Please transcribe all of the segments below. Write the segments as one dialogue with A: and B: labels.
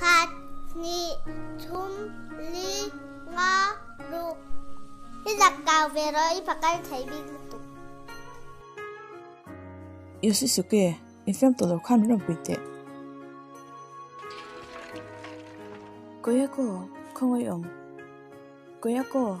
A: Khat, hni, thum, li, nga, ruk. I zak kau ve rawh, i fa kal thei bik lutuk. I si suk e, i fem tawh lo kha min rawn pui teh. Kawia kaw, khawngawi awm. Kawia kaw.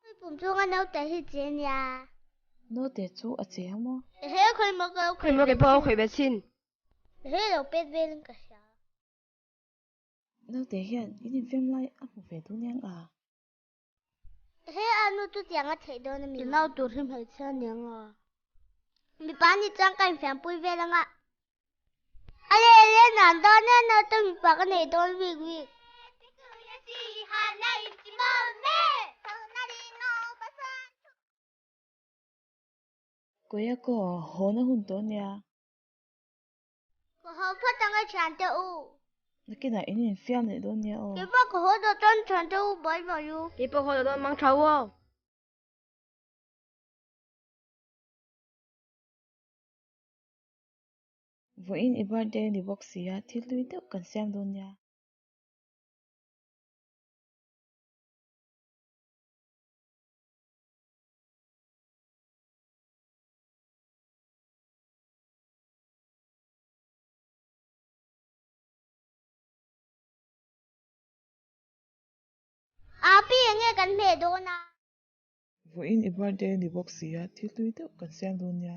A: Khawi pum chunga naute hi che nia. Naute chu a che a maw? Ehe khawi maw ka lo khawih ve chin. Khawi maw ke pawh a khawih ve chin. Ehe lo pet velin ka hria. Naute hian in infiam lai a hmu ve dun niang a. Ehe a nu chutiang a theih dawn a mi. Tunau tur hi hmeichhia niang a. Mipa ni chuan ka infiam pui vel ang a. A leh leh nan dawn e naute mipa ka nei dawn vik vik. Kawia kaw hawn a hun tawh nia. Ka haw phat ang e thian teh u. Na kinah in infiam leh dawn nia aw. Kepa ka haw dawn chuan thian teh u bye bye u. Kepa ka haw dawn mang tha u aw. Vawiin i birthday a ni bawk sia, thil hlui deuh kan siam dawn nia. Api eng nge kan hmeh dawn a? Vawiin i birthday a ni bawk sia, thil hlui deuh kan siam dawn nia.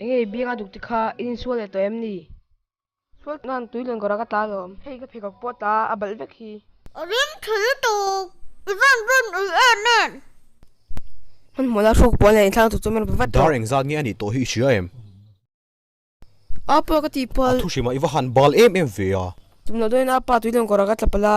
A: Engei bianga duk te kha in insual leh tawh em ni? Sual nan tui len kawrah ka tla lo. Hei ka pheikhawk pawh tla a balh vek hi. A ring tha lutuk. I van rawn ui e nen. Hmanhmawh lai hruk puan leh inthlak lutuk chu min rawp vat tawh. Dar engzat nge a nih tawh hi i hria em? A pa ka tih pal. A thuhrim ah i va han bal em em ve a. Tumloh dawn in a pa tui len kawrah ka tla pal a.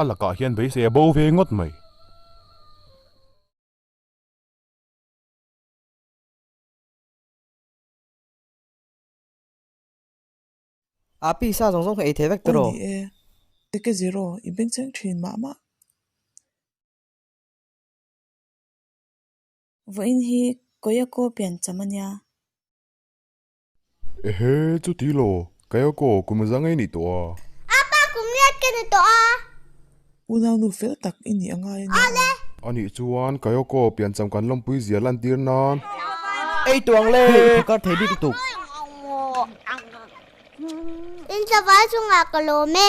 A: A lakah hian beisei a bo ve ngawt mai. A pi sa zawng zawng hi ei thei vek tawh rawh. Aw ni e, i ke zir aw, i bengcheng thin mah mah. Vawiin hi Kayako pian cham a nia. Ehe, chuti law, Kayako, kum zang a i nih tawh a. Apa, kum riat ka ni tawh a. U Naunu fel tak i nih a ngai a nia aw. A nih chuan Kayako pian cham kan lawmpui zia lan tir nan. Ei tuang le! Hei, i thakar thei bik lutuk. In savai chungah ka lawm e.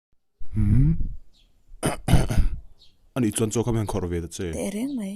A: Ani chuan chaw kham hian khawrh ve ta che. Teh reng mai.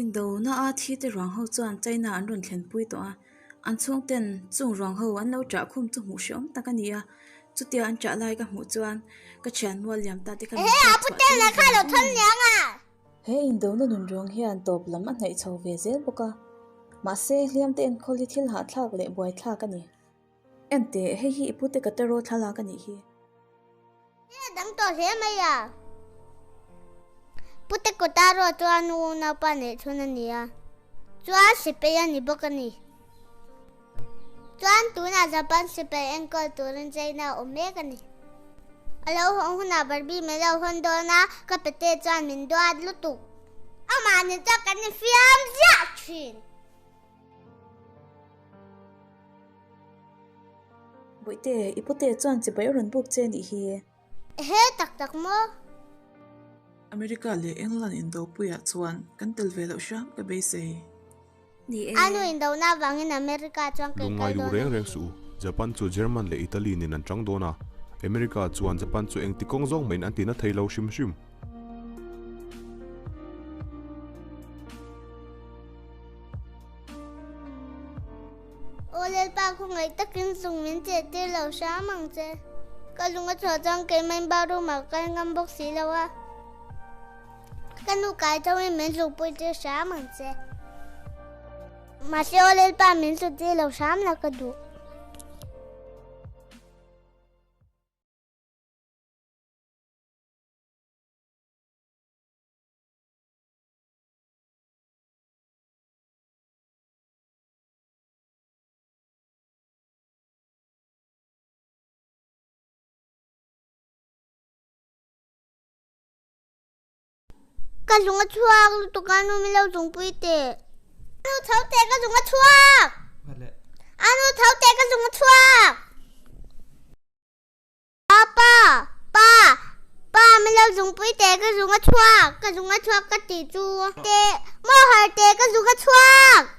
A: Indona a thi te ruang ho chuan China an rawn thlenpui tawh a, an chhung ten chung ruang ho an lo chah khum chu hmuh hreawm tak a ni a, chutia an chah lai ka hmuh chuan ka thian mual liam ta te kha min chhuak chhuah tir vang vang a ni. He indona nun rawng hian tawp lam a hnaih chho ve zel bawk a, mahse Hliamte enkawl hi thil hahthlak leh buaithlak a ni. Ente, hei hi i pute ka tarot thlalak a nih hi. Hei a dang tawh hle mai a, pute kaw tarot chu a nu naupa neih chhun a ni a, chu a hre phei a ni bawk a ni. Chuan tunah Japan Super enkawlh turin China a awm mek a ni. A lo hawng hunah Barbie min lo hawn dawn a, ka Pete chuan min duat lutuk. Amahni chuan kan infiam ziah thin. Buihte, i pute chuan chibai a rawn buk che a nih hi e. He tak tak maw? America leh England indopuiah chuan kan tel ve loh hram ka beisei ni e. Anu indohna avangin America chuan kei kal dawn a ni. Duh ngai duh reng reng suh u. Japan chu German leh Italy nen an chang dawn a, America chuan Japan chu engti kawng zawng mahin an tina thei lo hrim hrim. Aw Lalpa khaw ngaih takin zung min che tir lo hrang ang che. Ka lung a chhuah chuan keimaiin bathroom ah ka kal ngam bawk si lo a, ka nu kai tho in min hluk pui tir hrang ang che. Mahse aw Lalpa min hlu tir lo hrang la ka duh. Ka zunga chuak lutuk a nu milo zung pui te. Anu thau te ka zunga chuak. Anu thau te ka zunga chuak. Papa! Pa! Pa! Min lo zungpui teh ka zung a chhuak, ka zung a chhuak ka tih chu. Teh! Maw har teh ka zung a chhuak!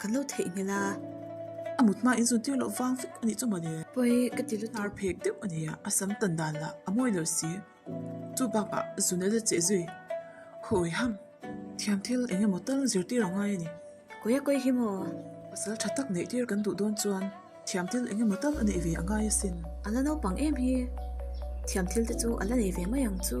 A: Kan lo theih nghal a. A mut hma in zun tir loh vang fik anih chu mawni. Pawi ka ti lutuk. Tar phek deuh a nia. A sam tan dan lah a mawi lo si. Chu bakah zun a la cheh zui. Hawi ham. Thiam thil eng emaw tal zir tir ang ngai a ni. Kawi a kawi hi maw. Pasal tha tak neih tir kan duh dawn chuan thiam thil eng emaw tal a neih ve a ngai a sin. A la naupang em hi. Thiam thil te chu a la nei ve mai ang chu.